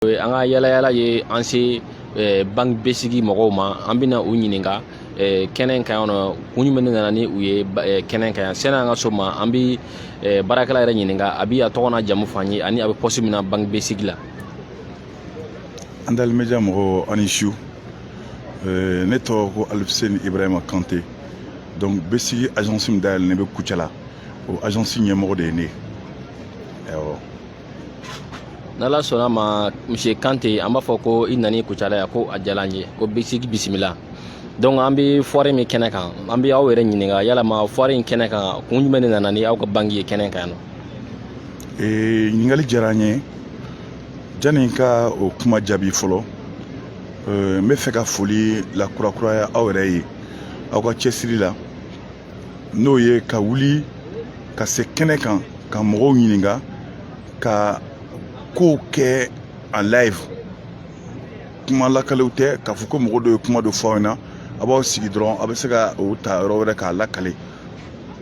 an ka yaalayala ye an se banki besigi mɔgɔw ma an bɛna u ɲininka kɛnɛ in kan yan nɔ kun jumɛn de nana ni u ye kɛnɛ in kan yan sanni an ka s'o ma an bɛ baarakɛla yɛrɛ ɲininka a bɛ a tɔgɔ n'a jamu fɔ an ye ani a bɛ pɔsi min na banki besigi la an dali média mɔgɔw aw ni su Euh, ne tɔgɔ ko alifuseni ibrahima kante donc besigi agence min dayɛlɛlen bɛ kucala o agence ɲɛmɔgɔ de ye ne ye awɔ n'ala sɔnna ma monsieur kante an b'a fɔ ko i nani kucala yan ko a diyara an ye ko besigi bisimila donc an bɛ foire min kɛnɛ kan an bɛ aw yɛrɛ ɲininka yalama foire in kɛnɛ kan kun jumɛn de nana ni aw ka banki ye kɛnɛ kan yan nɔ ee ɲininkali diyara n ye janni n ka o kuma jaabi fɔlɔ n bɛ fɛ ka foli lakurakuraya aw yɛrɛ ye aw ka cɛsiri la n'o ye ka wuli ka se kɛnɛ kan ka mɔgɔw ɲininka ka kow kɛ en live kuma lakalew tɛ k'a fɔ ko mɔgɔ dɔ ye kuma dɔ fɔ aw ɲɛna aw b'aw sigi dɔrɔn aw bɛ se ka o ta yɔrɔ wɛrɛ k'a lakale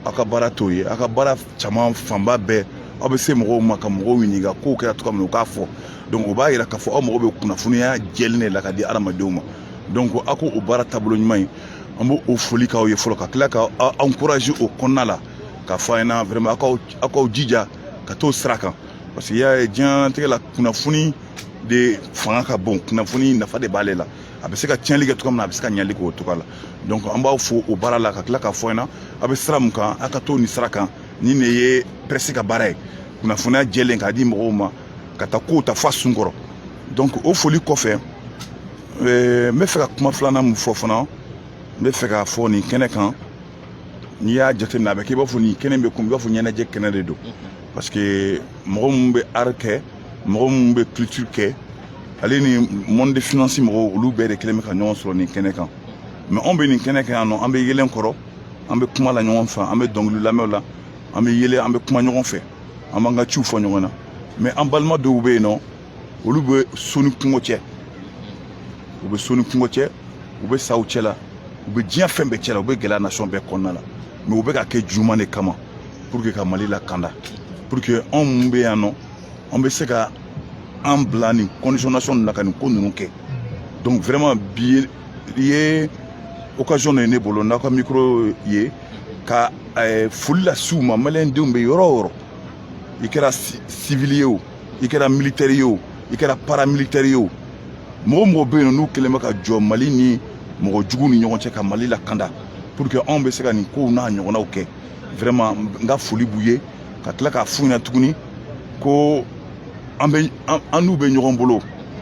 aw ka baara t'o ye aw ka baara caman fanba bɛɛ aw bɛ se mɔgɔw ma ka mɔgɔw ɲininka kow kɛra cogoya min na u k'a fɔ donc o b'a yira k'a fɔ aw mago bɛ kunnafoniya jɛlen de la k'a di hadamadenw ma donc aw k'o baara taabolo ɲuman ye an b' o foli k'aw ye fɔlɔ ka tila k'aw encourager o kɔnɔna la k'a fɔ aw ɲɛna vraiment aw k'aw jija ka t'o sira kan parce que y'a ye diɲɛtigɛ la kunnafoni de fanga ka bon kunnafoni nafa de b'ale la a bɛ se ka tiɲɛnli kɛ cogo min na a bɛ se ka ɲali k'o cogo la donc an b'aw fo o baara la ka tila k'a fɔ aw ɲɛna aw bɛ sira min kan aw ka to nin sira kan nin de ye pɛresi ka baara ye kunnafoniya jɛlen k'a di mɔgɔw ma ka taa kow ta fo a sun kɔrɔ donc o foli kɔfɛ Ee, n bɛ fɛ ka kuma filanan min fɔ fana n bɛ fɛ k'a fɔ nin kɛnɛ kan n'i y'a jateminɛ a bɛ kɛ i b'a fɔ nin kɛnɛ bɛ komi i b'a fɔ ɲɛnajɛ kɛnɛ de don parce que mɔgɔ minnu bɛ art kɛ mɔgɔ minnu bɛ culture kɛ ale ni monde de finance mɔgɔw olu bɛɛ de kɛlen bɛ ka ɲɔgɔn sɔrɔ nin kɛnɛ kan mɛ anw bɛ nin kɛnɛ kan yan nɔ an bɛ yeelen kɔrɔ an bɛ kuma la ɲɔgɔn fɛ an bɛ dɔnkili lamɛnw la an bɛ yɛlɛ an bɛ kuma ɲɔgɔn fɛ an b'an ka ciw fɔ ɲɔgɔn na mɛ an balima dɔw bɛ yen nɔ olu bɛ so ni kungo cɛ u bɛ so ni kungo cɛ u bɛ saw cɛla u bɛ diɲɛ fɛn bɛɛ cɛla u bɛ gɛlɛya nasɔn bɛɛ kɔnɔna la mɛ u bɛ k'a kɛ jumɛn de kama pour que ka mali lakanda pour que anw minnu bɛ yan nɔ an bɛ se ka an bila nin condition nasɔn la ka nin ko ninnu kɛ donc vraiment bi ye occasion de ye ne bolo n'aw ka micro ye ka eh, foli lase u ma maliyɛndenw bɛ yɔrɔ o yɔrɔ i kɛra sivili ye o i kɛra militɛri ye o i kɛra paramilitɛri ye o mɔgɔ o mɔgɔ bɛ yen nɔ n'u kɛlen bɛ ka jɔ mali ni mɔgɔ jugu ni ɲɔgɔn cɛ ka mali lakanda pour que anw bɛ se ka nin kow n'a ɲɔgɔnnaw kɛ vraiment n ka foli b'u ye ka tila k'a f'u ɲɛna tuguni ko an bɛ an n'u bɛ ɲɔgɔn bolo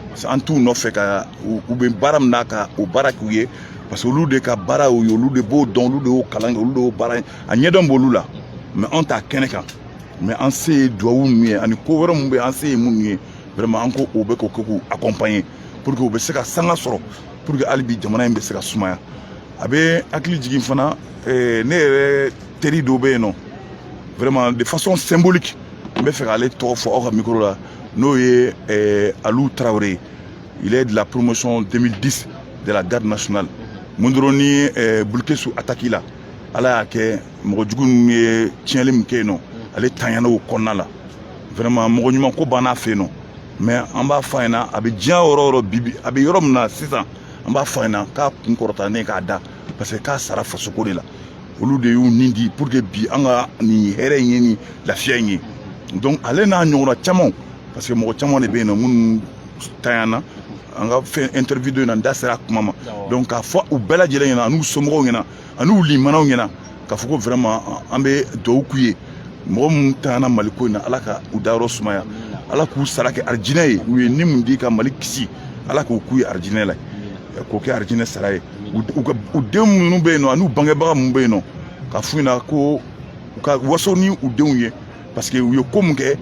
parce que an t'u nɔfɛ ka u bɛ baara min na ka o baara k'u ye parce que olu de ka baara y'o ye olu de b'o dɔn olu de y'o kalan kɛ olu de y'o baara a ɲɛdɔn b'olu la mais anw t'a kɛnɛ kan mais an se ye dugawu minnu ye ani ko wɛrɛ minnu bɛ an se ye minnu ye vraiment an ko o bɛ k'o kɛ k'u accompagner pour que u bɛ se ka sanga sɔrɔ pour que hali bi jamana in bɛ se ka sumaya a bɛ hakili jigin fana eh, ne yɛrɛ teri dɔ bɛ yen nɔ vraiment de façon symbolique n bɛ fɛ k'ale tɔgɔ fɔ aw ka micro la n'o ye eh, Alou Traoré il est de la promotion 2010 de la garde nationale min dɔrɔn ni eh, Boulkessi attaque la ala y'a kɛ mɔgɔ jugu ninnu ye tiɲɛli min kɛ yen nɔ ale tanyana o kɔnɔna la vraiment mɔgɔ ɲuman ko b'an fɛ yen nɔ mais an b'a fɔ a ɲɛna a bɛ diɲɛ yɔrɔ o yɔrɔ bibi a bɛ yɔrɔ min na sisan an b'a fɔ a ɲɛna k'a kun kɔrɔtalen k'a da parce que k'a sara fasoko de la olu de y'u ni di pour que bi an ka nin hɛrɛ in ye nin lafiya in ye donc ale n'a ɲɔgɔnna camanw parce que mɔgɔ caman de bɛ yen nɔ minnu tanyana an ka fɛn interview dɔ in na n da sera a kuma ma donc k'a fɔ u bɛɛ lajɛlen ɲɛna an'u somɔgɔw ɲɛna ani u limanaw ɲɛna k'a fɔ ko vraiment an bɛ dugawu k'u ye mɔgɔ minnu tanyana mali ko in na ala ka u dayɔrɔ sumaya ala k'u sara kɛ arijinɛ ye u ye ni min di ka mali kisi ala k'o k'u ye arijinɛ la k'o kɛ arijinɛ sara ye u denw minnu bɛ yen nɔ an'u bangebaga minnu bɛ yen nɔ ka f'u ɲɛna ko u ka waso ni u denw ye parce que u ye ko min kɛ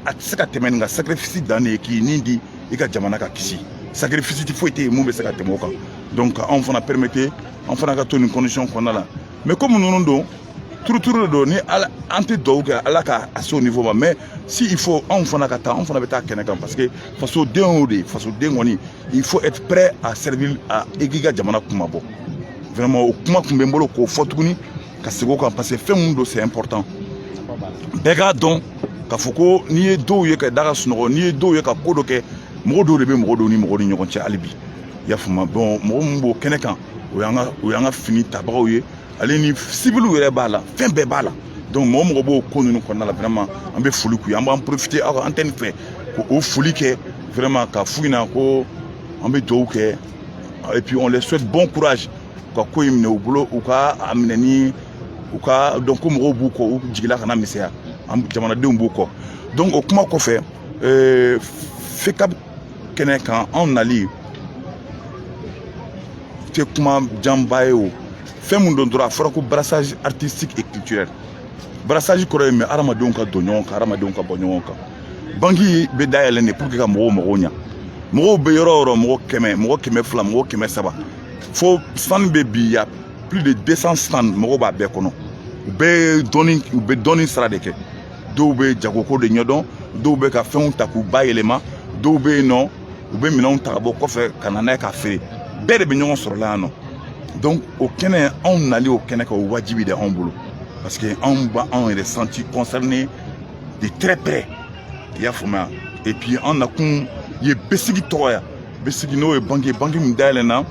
a tɛ se ka tɛmɛ nin kan sacrifice dan de ye k'i ni di i ka jamana ka kisi sacrifice foyi tɛ yen min bɛ se ka tɛmɛ o kan donc anw fana permettre an fana ka to nin condition kɔnɔna la mais komi ninnu don turuturu de don ni ala an tɛ duwawu kɛ ala ka a se o niveau ma mais si il faut anw fana ka taa anw fana bɛ taa kɛnɛ kan parce que fasoden y'o de ye fasoden kɔni il faut être prêt à servir à i k'i ka jamana kunmabɔ vraiment o kuma tun bɛ n bolo k'o fɔ tuguni ka segin o kan parce que fɛn min don c'est important bɛɛ k'a dɔn k'a fɔ ko n'i ye dɔw ye ka da ka sunɔgɔ n'i ye dɔw ye ka ko dɔ kɛ mɔgɔ dɔw de bɛ mɔgɔ dɔw ni mɔgɔ ni ɲɔgɔn cɛ hali bi i y'a faamuya bon mɔgɔ min b'o kɛnɛ kan o y'an ka o y'an ka fini tabagaw ye ale ni siwiliw yɛrɛ b'a la fɛn bɛɛ b'a la donc mɔgɔ o mɔgɔ b'o ko ninnu kɔnɔna la vraiment an bɛ foli k'u ye an b'an profiter aw ka antenne fɛ ka o foli kɛ vraiment ka f'u ɲɛna ko an bɛ dugawu kɛ et puis on les souhaite bon courage u ka ko in minɛ u bolo u ka a minɛ ni u ka dɔn ko mɔgɔw b'u kɔ u jigila kana misɛnya an jamanadenw b'u kɔ donc o kuma kɔfɛ euh, fekab kɛnɛ kan anw nali tɛ kuma janba ye o fɛn min don dɔrɔn a fɔra ko brassage artistique et culturel brassage kɔrɔ ye min hadamadenw ka don ɲɔgɔn kan hadamadenw ka bɔ ɲɔgɔn kan banki bɛ dayɛlɛ de pour que ka mɔgɔw mago ɲa mɔgɔw bɛ yɔrɔ o yɔrɔ mɔgɔ kɛmɛ mɔgɔ kɛmɛ fila mɔgɔ kɛmɛ saba fo stand bɛ bi y a plus de 200 stand mɔgɔw b'a bɛɛ kɔnɔ u bɛɛ dɔnni u bɛ dɔnni sira de kɛ dɔw bɛ jagoko de ɲɛdɔn dɔw bɛ ka fɛnw ta k'u bayɛlɛma dɔw bɛ yen nɔ u bɛ minɛnw ta ka bɔ kɔfɛ ka na n'a ye k'a feere bɛɛ de bɛ ɲɔgɔn sɔrɔ la yan nɔ donc o kɛnɛ anw nali o kɛnɛ kan o wajibi de anw bolo parce que anw b'a anw yɛrɛ senti concerné de très près i y'a faamuya et puis an nakun ye BSIC tɔgɔ ye BSIC n'o ye banki banki min dayɛlɛna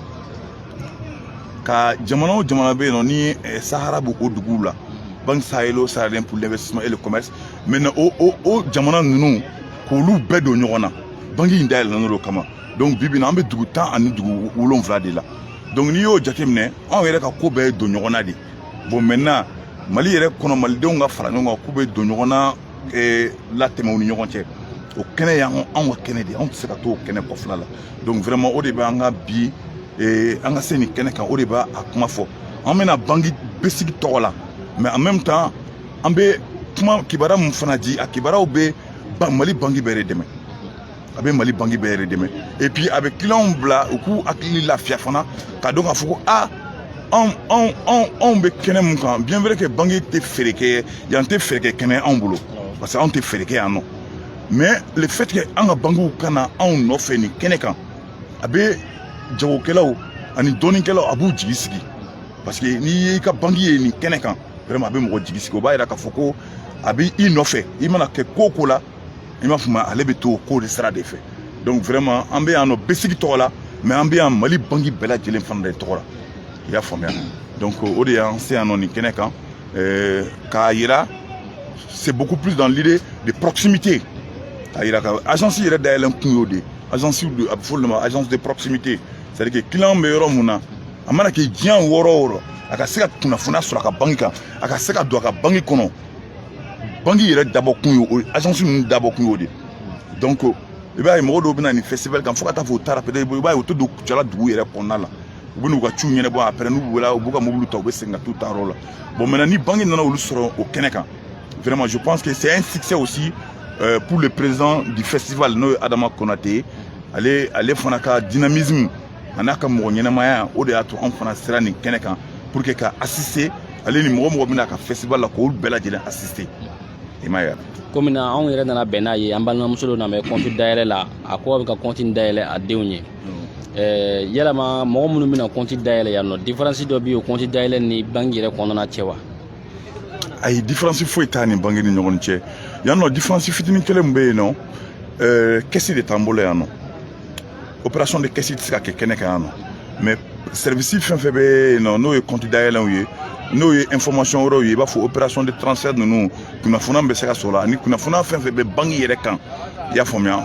ka jamana o jamana bɛ yen nɔ ni eh, sahara b'o o duguw la banque sahélo saharienne pour l'investissement et le commerce maintenant o o o jamana ninnu k'olu bɛɛ don ɲɔgɔn na banki in dayɛlɛn'o kama donc bi bi in na an bɛ dugu tan ani dugu wolonwula de la donc n'i y'o jateminɛ anw yɛrɛ ka ko bɛɛ ye don ɲɔgɔn na de bon maintenant mali yɛrɛ kɔnɔ malidenw ka fara ɲɔgɔn kan k'u bɛɛ don ɲɔgɔn na ee, latɛmɛ u ni ɲɔgɔn cɛ o kɛnɛ y'an anw ka kɛnɛ de ye anw tɛ se ka to o kɛnɛ kɔfɛla la donc vraiment o de bɛ an ka bi ee, an ka se nin kɛnɛ kan o de b'a a kuma fɔ an bɛna banki BSIC tɔgɔ la mais en même temps an bɛ kuma kibaruya min fana di a kibaruyaw bɛ mali banki bɛɛ de dɛmɛ a bɛ mali banki bɛɛ yɛrɛ dɛmɛ et puis a bɛ clientw bila u k'u hakili lafiya fana k'a dɔn k'a fɔ ko a anw anw anw anw bɛ kɛnɛ mun kan bien vrai que banki tɛ feere kɛ yan tɛ feere kɛ kɛnɛ anw bolo parce que anw tɛ feere kɛ yan nɔ mais le fait que an ka bankiw ka na anw nɔfɛ nin kɛnɛ kan a bɛ jagokɛlaw ani dɔnnikɛlaw a b'u jigi sigi parce que n'i y'i ka banki ye nin kɛnɛ kan vraiment a bɛ mɔgɔ jigi sigi o b'a yira k'a fɔ ko a bɛ i nɔfɛ i mana kɛ ko o ko la i m'a faamuya ale bɛ to o ko de sira de fɛ donc vraiment an bɛ yan nɔ BSIC tɔgɔ la mais an bɛ yan mali banki bɛɛ lajɛlen fana de tɔgɔ la i y'a faamuya donc o de y'an se yan nɔ nin kɛnɛ kan k'a yira c'est beaucoup plus dans l'idée de proximité k'a yira ko agence yɛrɛ dayɛlɛn kun y'o de ye agence a bɛ fɔ olu ma agence de proximité c'est à dire que client bɛ yɔrɔ mun na a mana kɛ diɲɛ yɔrɔ o yɔrɔ a ka se ka kunnafoniya sɔrɔ a ka banki kan a ka se ka don a ka banki kɔnɔ banki yɛrɛ dabɔ kun ye o agence ninnu dabɔ kun y'o de donc i b'a ye mɔgɔ dɔw bɛna nin festival kan fo ka taa fo u taara peut-être i b'a ye u tɛ don Kucala dugu yɛrɛ kɔnɔna la u bɛn'u ka ciw ɲɛnabɔ après n'u wulila u b'u ka mobiliw ta u bɛ segin ka t'u ta yɔrɔ la bon maintenant ni banki nana olu sɔrɔ o kɛnɛ kan vraiment je pense que c'est un succès aussi euh, pour le président du festival n'o ye Adama Konate ye ale ale fana ka dynamisme a n'a ka mɔgɔ ɲɛnamaya o de y'a to anw fana sera nin kɛnɛ kan pour que ka assister ale ni mɔgɔ o mɔgɔ bɛ na ka festival la k'olu bɛɛ lajɛlen assister i m'a ye komi na anw yɛrɛ nana bɛn n'a ye an balimamuso dɔ nana kɔnti dayɛlɛ la a ko a bɛ ka kɔnti dayɛlɛ a denw ye hmm. yala mɔgɔ minnu bɛna kɔnti dayɛlɛ yan nɔ diferansi dɔ bɛ yen o kɔnti dayɛlɛ ni banki yɛrɛ kɔnɔna cɛ wa ayi diferansi foyi t'a ni banki ni ɲɔgɔn cɛ yan nɔ diferansi fitinin kelen min bɛ yen nɔ kɛsi de t'an bolo yan nɔ opération de caisse tɛ se ka kɛ kɛnɛ kan yan nɔ mais service fɛn fɛn bɛ yen nɔ n'o ye compte dayɛlɛnw ye n'o ye information wɛrɛw ye i b'a fɔ opération de transfert ninnu kunnafoniya min bɛ se ka sɔrɔ ani kunnafoniya fɛn fɛn bɛ banki yɛrɛ kan i y'a faamuya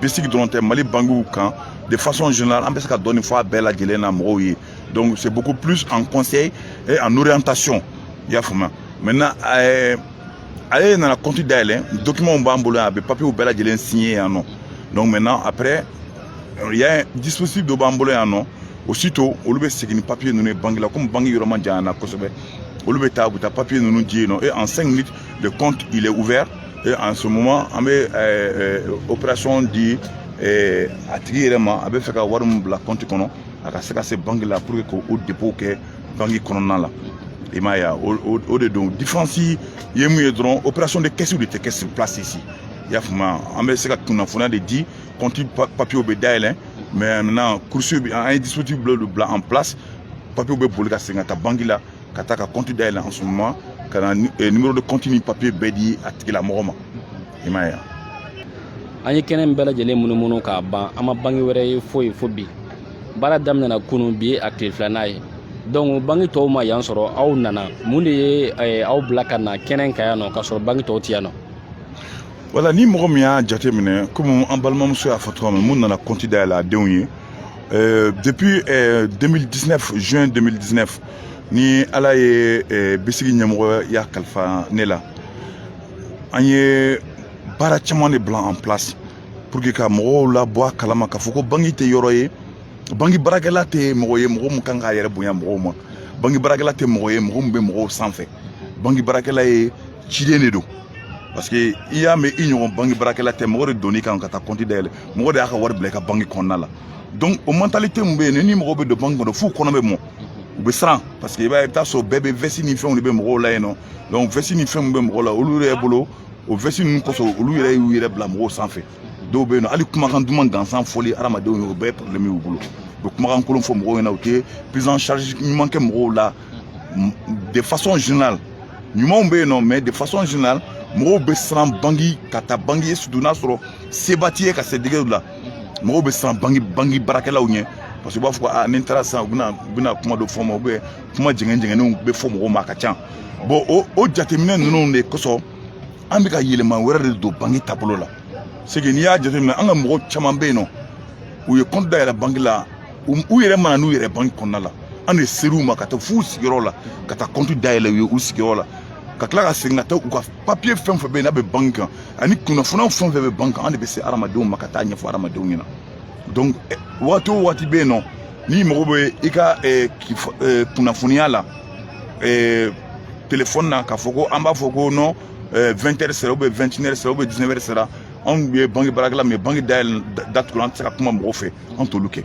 BSIC dɔrɔn tɛ mali bankiw kan de façon générale an bɛ se ka dɔɔni fɔ a bɛɛ lajɛlen na mɔgɔw ye donc c'est beaucoup plus en conseil et en orientation i y'a faamuya maintenant ɛɛ ale nana compte dayɛlɛ documentw b'an bolo yan a bɛ papiyew bɛɛ lajɛlen signer yan nɔ donc maintenant après il y a un dispositif dɔ b'an bolo yan nɔ aussitôt olu bɛ segin ni papiye ninnu ye banque la komi banque yɔrɔ man jan yan na kosɛbɛ olu bɛ taa u bɛ taa papiye ninnu di yen nɔ et en cinq minutes le compte il est ouvert et en ce moment an bɛ euh, opération di euh, a tigi yɛrɛ ma a bɛ fɛ ka wari min bila compte kɔnɔ a ka se ka se banque la pour que k'o dépôt kɛ banki kɔnɔna la i m'a ye o de don diferansi ye mun ye dɔrɔn opération de kɛsiw de tɛ kɛ sur place ici i y'a faamuya an bɛ se ka kunnafoniya de di kɔnti papiyew bɛ dayɛlɛ mais na kurusi bɛ an ye dispositif bila olu bila en place papiyew bɛ boli ka segin ka taa banki la ka taa ka kɔnti dayɛlɛ en ce moment ka na numéro de compte ni papiye bɛɛ di a tigilamɔgɔ ma i m'a ye an ye kɛnɛ in bɛɛ lajɛlen munumunu k'a ban an ma banki wɛrɛ ye foyi fo bi baara daminɛna kunu bi ye a tile filanan ye donc banki tɔw ma yan sɔrɔ aw nana mun de ye eh, aw bila ka na kɛnɛ in kan yan nɔ k'a sɔrɔ banki tɔw tɛ yan nɔ wala ni mɔgɔ min y'a jate minɛ komi an balimamuso y'a fɔ cogoya min min nana kɔnti dayɛlɛ a denw ye eh, depuis 2019 eh, juin 2019 ni ala ye BSIC ɲɛmɔgɔya kalifa ne la an ye baara caman de bila an place pour que ka mɔgɔw labɔ a kalama k'a fɔ ko banki tɛ yɔrɔ ye banki baarakɛla tɛ mɔgɔ ye mɔgɔ min kan k'a yɛrɛ bonya mɔgɔw ma banki baarakɛla tɛ mɔgɔ ye mɔgɔ min bɛ mɔgɔw sanfɛ banki baarakɛla ye ciden de don parce que i y'a mɛn i ɲɔgɔn banki baarakɛla tɛ mɔgɔ de donni kan ka taa kɔnti dayɛlɛ mɔgɔ de y'a ka wari bila i ka banki kɔnɔna la donc o mentalité min bɛ yen ni mɔgɔ bɛ don banki kɔnɔ f'u kɔnɔ bɛ mɔ u bɛ siran parce que i b'a ye i bɛ taa sɔrɔ bɛɛ bɛ veste ni fɛnw de bɛ mɔgɔw la yen nɔ donc veste ni fɛnw bɛ mɔgɔw la olu yɛrɛ bolo o veste ninnu kosɔn olu yɛrɛ y'u yɛrɛ bila mɔgɔw sanfɛ dɔw bɛ yen nɔ hali kumakan duman gansan fɔli hadamadenw ye o bɛɛ ye problème y'u bolo u bɛ kumakan kolon fɔ mɔgɔw ɲɛna u tɛ prise en charge ɲuman kɛ mɔgɔw la de façon générale ɲumanw bɛ yen nɔ mais de façon générale mɔgɔw bɛ siran banki ka taa banki surtout n'a sɔrɔ seba t'i ye ka se degeli la mɔgɔw bɛ siran banki banki baarakɛlaw ɲɛ parce que u b'a fɔ ko aa ni n taara sisan u bɛna u bɛna kuma dɔ fɔ n ma ou bien kuma jɛngɛn jɛngɛnnenw bɛ fɔ mɔgɔw ma a ka ca bon o o jateminɛ ninnu de kosɔn an bɛ ka yɛlɛma wɛrɛ de don banki taabolo la c'est que n'i y'a jateminɛ an ka mɔgɔ caman bɛ yen nɔ u ye kɔnti dayɛlɛ banki la u yɛrɛ ma na n'u yɛrɛ banki kɔnɔna la an de ser'u ma ka taa f'u sigiyɔrɔ la ka taa kɔnti dayɛlɛ u ye u sigiyɔrɔ la ka tila ka segin ka taa u ka papiye fɛn fɛn bɛ yen n'a bɛ banki kan ani kunnafoniyaw fɛn fɛn bɛ banki kan an de bɛ se hadamadenw ma ka taa ɲɛfɔ hadamadenw ɲɛna donc eh, waati o waati bɛ yen nɔ n'i mago bɛ i ka eh, eh, kunnafoniya la telefɔni na k'a fɔ ko an b'a fɔ ko ni 20 heures sera ou bien 21 heures sera ou bien 19 heures sera anw ye banki baarakɛla min ye banki dayɛlɛ datugula an tɛ se ka kuma mɔgɔw fɛ an t'olu kɛ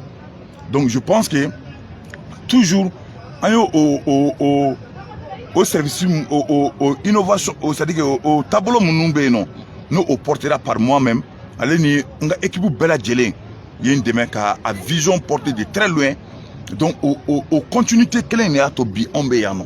donc je pense que toujours an y'o o o o o service o o o innovation o c'est à dire que o taabolo minnu bɛ yen nɔ n'o o portera par moi même ale ni n ka équipe bɛɛ lajɛlen ye n dɛmɛ ka a vision porter de très loin donc o o o continuité kelen in de y'a to bi anw bɛ yan nɔ.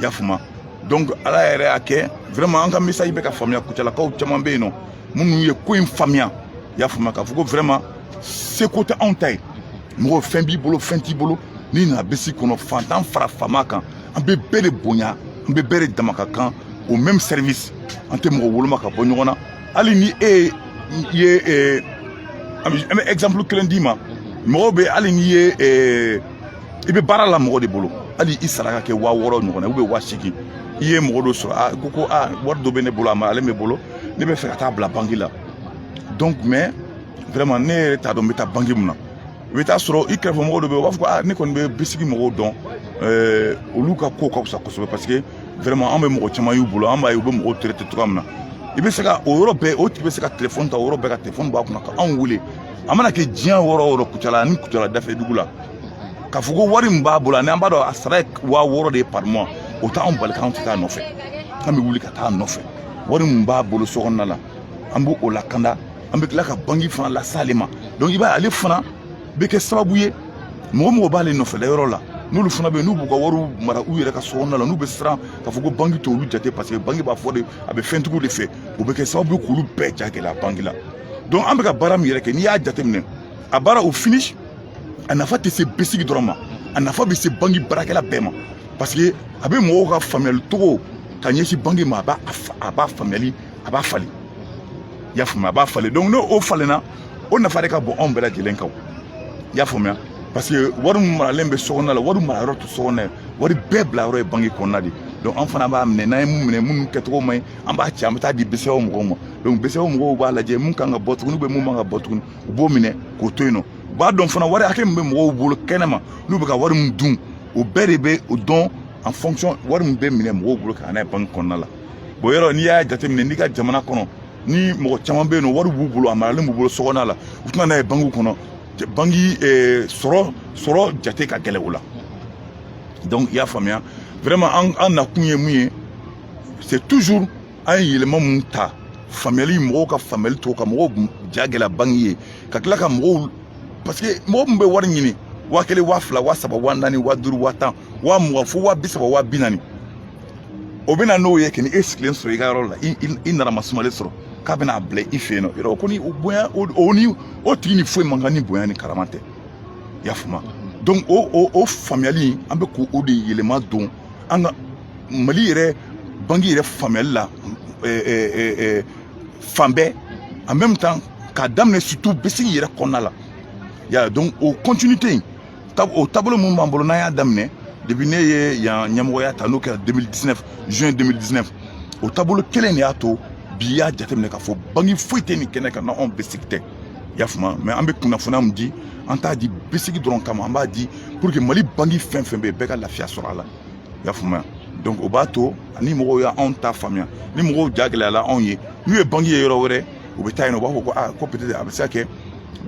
y'a faamuya donc ala yɛrɛ y'a kɛ vraiment an ka message bɛ ka faamuya kucalakaw caman bɛ yen nɔ minnu ye ko in faamuya y'a faamuya k'a fɔ ko vraiment seko tɛ anw ta ye mɔgɔ fɛn b'i bolo fɛn t'i bolo n'i nana BSIC kɔnɔ fantan fara faama kan an bɛ bɛɛ de bonya an bɛ bɛɛ de dama ka kan o même service an tɛ mɔgɔ woloma ka bɔ ɲɔgɔn na hali ni e ye an bɛ exemple kelen d'i ma mɔgɔw bɛ hali n'i ye i bɛ baara la mɔgɔ de bolo hali i sara ka kɛ waa wɔɔrɔ ɲɔgɔn na ou bien waa seegin i ye mɔgɔ dɔ sɔrɔ a ko ko a wari dɔ bɛ ne bolo a maralen bɛ n bolo ne bɛ fɛ ka taa bila banki la donc mais vraiment ne yɛrɛ t'a dɔn n bɛ taa banki mun na i bɛ taa sɔrɔ i kɛrɛfɛ mɔgɔw dɔ bɛ yen u b'a fɔ ko aa ne kɔni bɛ BSIC mɔgɔw dɔn ɛɛ olu ka ko ka fisa kosɛbɛ parce que vraiment an bɛ mɔgɔ caman y'u bolo an b'a ye u bɛ mɔgɔw traiter cogoya min na i bɛ se ka o yɔrɔ bɛɛ o tigi bɛ se ka telefɔni ta o yɔrɔ bɛɛ ka telefɔni b'a kunna ka anw wele a mana kɛ diɲɛ yɔrɔ o yɔrɔ kucala ani kucala dafɛ dugu la k'a fɔ ko wari min b'a bolo ani an b'a dɔn a sara ye waa wɔɔrɔ de ye par mois o t'anw bali k'anw tɛ taa nɔfɛ an bɛ wuli ka taa nɔfɛ wari min b'a bolo so kɔnɔna la an b'o o lakanda an bɛ tila ka banki fana lase ale ma donc i b'a ye ale fana bɛ kɛ sababu ye mɔgɔ o mɔgɔ b'ale nɔfɛla yɔrɔ la n'olu fana bɛ yen n'u b'u ka wariw mara u yɛrɛ ka so kɔnɔna la n'u bɛ siran k'a fɔ ko banki t'olu jate parce que banki b'a fɔ de a bɛ fɛntigiw de fɛ o bɛ kɛ sababu ye k'olu bɛɛ ja gɛlɛya banki la donc an bɛ ka baara min yɛrɛ kɛ n'i y'a jateminɛ a baara o finish a nafa tɛ se BSIC dɔrɔn ma a nafa bɛ se banki baarakɛla bɛɛ ma parce que a bɛ mɔgɔw ka faamuyali cogo ka ɲɛsin banki ma a b'a a b'a faamuyali a b'a falen i y'a faamuya a b'a falen donc n'o falenna o nafa de ka bon anw bɛɛ lajɛlen kan i y'a faamuya parce que wari min maralen bɛ sokɔnɔna la wari marayɔrɔ tɛ sokɔnɔna ye wari bɛɛ bila yɔrɔ ye banki kɔnɔna de donc an fana b'a minɛ n'an ye mun minɛ minnu kɛcogo man ɲi an b'a ci an bɛ taa di BCEAO mɔgɔw ma donc BCEAO mɔgɔw b'a lajɛ mun kan ka bɔ tuguni bɛ mun man ka bɔ tuguni u b'o minɛ k'o to yen nɔ u b'a dɔn fana wari hakɛ min bɛ mɔgɔw bolo kɛnɛ ma n'u bɛ ka wari min dun o bɛɛ de bɛ o dɔn en fonction wari min bɛ minɛ mɔgɔw bolo ka n'a ye banki kɔnɔna la bon yɔrɔ n'i y'a jateminɛ n'i ka jamana kɔnɔ ni mɔgɔ caman bɛ yen nɔ wari b'u bolo a maralen b'u bolo sokɔnɔna la u tɛ na n'a ye bankiw kɔnɔ banki eh, sɔrɔ sɔrɔ jate ka gɛlɛn o la donc i y'a faamuya vraiment an an nakun ye mun ye c'est toujours an ye yɛlɛma min ta faamuyali mɔgɔw ka faamuyali to ka mɔgɔw ja gɛlɛya banki ye ka tila ka mɔgɔw parce que mɔgɔ min bɛ wari ɲini waa kelen waa fila waa saba waa naani waa duuru waa tan waa mugan fo waa bi saba waa bi naani o bɛna n'o ye ka n'i sigilen sɔrɔ i ka yɔrɔ la i nana masumalen sɔrɔ k'a bɛna bila i fɛ yen nɔ yɔrɔ ko ni o bonya o ni o tigi ni foyi man kan ni bonya ni karama tɛ i y'a faamu donc o o o faamuyali an bɛ k'o de yɛlɛma don an ka mali yɛrɛ banki yɛrɛ faamuyali la fan bɛɛ en même temps k'a daminɛ surtout BSIC yɛrɛ kɔnɔna la ya donc o continuité in o taabolo min b'an bolo n'an y'a daminɛ depuis ne ye yan ɲɛmɔgɔya ta n'o kɛra 2019 juin 2019 o taabolo kelen de y'a to bi y'a jateminɛ k'a fɔ banki foyi tɛ nin kɛnɛ kan n'anw BSIC tɛ i y'a faamuya mais an bɛ kunnafoniya min di an t'a di BSIC dɔrɔn kama an b'a di pour que mali banki fɛn fɛn bɛ yen bɛɛ ka lafiya sɔrɔ a la i y'a faamuya donc o b'a to ni mɔgɔw y'anw ta faamuya ni mɔgɔw ja gɛlɛyala anw ye n'u ye banki ye yɔrɔ wɛrɛ u bɛ taa yen nɔ u b'a fɔ ko aa ko peut-être a bɛ se ka kɛ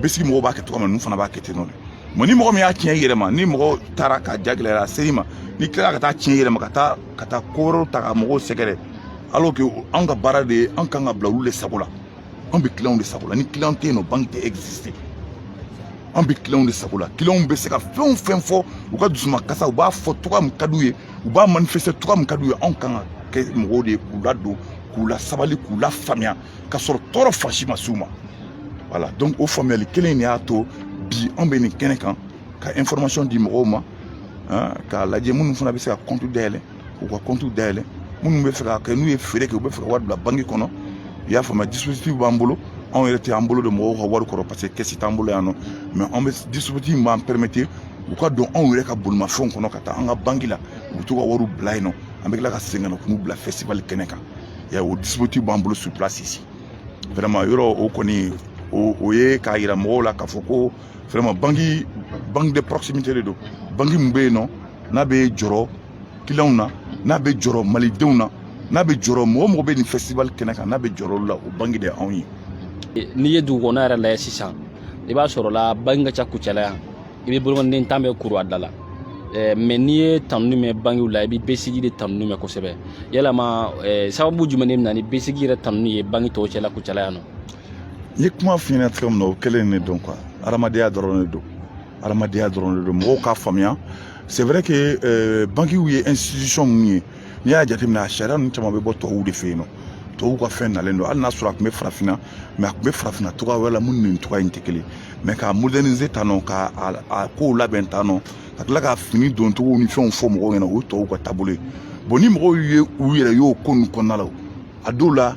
BSIC mɔgɔw b'a kɛ cogoya min na ninnu fana b'a kɛ ten nɔ de mais ni mɔgɔ min y'a tiɲɛ i yɛrɛ ma ni mɔgɔ taara ka ja gɛlɛya a sera i ma n'i tilala ka taa tiɲɛ i yɛrɛ ma ka taa ka taa ko wɛrɛw ta ka mɔgɔw sɛgɛrɛ alors que anw ka baara de ye anw kan ka bila olu de sago la anw bɛ kiliyanw de sago la ni kiliyan tɛ yen nɔ banki tɛ exister an bɛ kiliyanw de sago la kiliyanw bɛ se ka fɛn o fɛn fɔ u ka dusumakasi u b'a fɔ cogoya min ka d'u ye u b'a manifester cogoya min ka d'u ye anw kan ka kɛ mɔgɔw de ye k'u ladon k'u lasabali k'u lafaamuya ka sɔrɔ tɔɔrɔ fan si ma s'u ma voilà donc o faamuyali kelen in de y'a to bi anw bɛ nin kɛnɛ kan ka information di mɔgɔw ma k'a lajɛ minnu fana bɛ se ka compte dayɛlɛ k'u ka compte dayɛlɛ minnu bɛ fɛ ka kɛ n'u ye feere kɛ u bɛ fɛ ka wari bila banki kɔnɔ i y'a faamuya dispositif b'an bolo anw yɛrɛ tɛ an bolo don mɔgɔw ka wari kɔrɔ parce que kɛsi t'an bolo yan nɔ mais an bɛ dispositif b'an permettre u ka don anw yɛrɛ ka bolimafɛnw kɔnɔ ka taa an ka banki la u bɛ to ka wariw bila yen nɔ an bɛ tila ka segin ka na k'u bila festival kɛnɛ kan ya o dispositif b'an bolo sur place ici vraiment yɔrɔ o kɔni o ye k'a yira mɔgɔw la k'a fɔ ko vraiment banki banque de proximité de don banki mun bɛ yen nɔ n'a bɛ jɔrɔ kiliyanw na n'a bɛ jɔrɔ malidenw na n'a bɛ jɔrɔ mɔgɔ o mɔgɔ bɛ nin festival kɛnɛ kan n'a bɛ jɔrɔ olu la o banki de anw ye. n'i ye dugu kɔnɔ yɛrɛ lajɛ sisan i b'a sɔrɔ la banki ka ca kucala yan i bɛ bolokɔniden tan bɛɛ kuru a da la eh, mɛ n'i ye tanuni mɛn bankiw la i bɛ BSIC de tanuni mɛn kosɛbɛ yalama eh, sababu jumɛn de bɛ na ni BSIC yɛrɛ tanuni ye banki tɔw cɛla kucala yan nɔ N ye kuma f'i ɲɛna cogo min na o kelen ne don quoi adamadenya dɔrɔn ne don adamadenya dɔrɔn ne don mɔgɔw k'a faamuya c'est vrai que euh, bankiw ye institution mun ye n'i y'a jateminɛ a sariya ninnu caman bɛ bɔ tubabuw de fɛ yen nɔ tubabuw ka fɛn nalen don hali n'a sɔrɔ a tun bɛ farafinna mɛ a tun bɛ farafinna cogoya wɛrɛ la min ni nin cogoya in tɛ kelen mɛ k'a moderniser tan nɔ ka a kow labɛn tan nɔ ka tila ka fini doncogo ni fɛnw fɔ mɔgɔw ɲɛna o ye tubabuw ka taabolo ye bon ni mɔgɔw ye u yɛrɛ y'o ko ninnu kɔnɔna la a dɔw la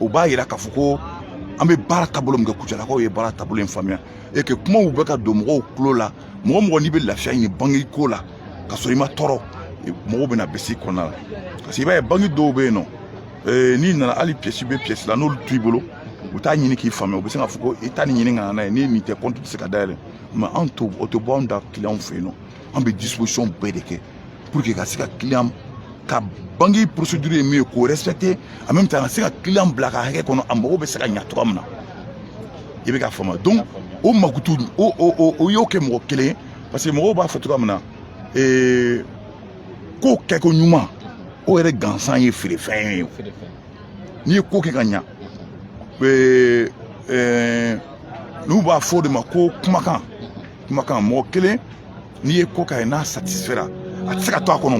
u b'a yira k'a fɔ ko an bɛ baara taabolo min kɛ kucalakaw ye baara taabolo in faamuya e kɛ kumaw bɛ ka don mɔgɔw tulo la mɔgɔ o mɔgɔ n'i bɛ lafiya ɲini banki ko la ka sɔrɔ i ma tɔɔrɔ mɔgɔw bɛ na BSIC kɔnɔna la parce que i b'a ye banki dɔw bɛ yen nɔ ee, n'i nana hali piyɛsi bɛ piyɛsi la n'olu t'i bolo u t'a ɲini k'i faamuya u bɛ se k'a fɔ ko i taa nin ɲini ka na n'a ye ni nin tɛ kɔnti tɛ se ka dayɛlɛ mɛ anw to o tɛ bɔ anw da kiliyanw fɛ yen nɔ an bɛ disposition bɛɛ de kɛ pour que ka se ka client ka banki procédure ye min ye k'o respecter en même temps ka se ka client bila a ka hakɛ kɔnɔ a mago bɛ se ka ɲa cogoya min na i bɛ k'a faamu donc o mankutu o o o y'o kɛ mɔgɔ kelen parce que mɔgɔw b'a fɔ cogoya min na ee ko kɛ koɲuman o yɛrɛ gansan ye feerefɛn ye n'i ye ko kɛ ka ɲa ee ɛɛ n'u b'a fɔ o de ma ko kumakan kumakan mɔgɔ kelen n'i ye ko k'a ye n'a satisifera a tɛ se ka to a kɔnɔ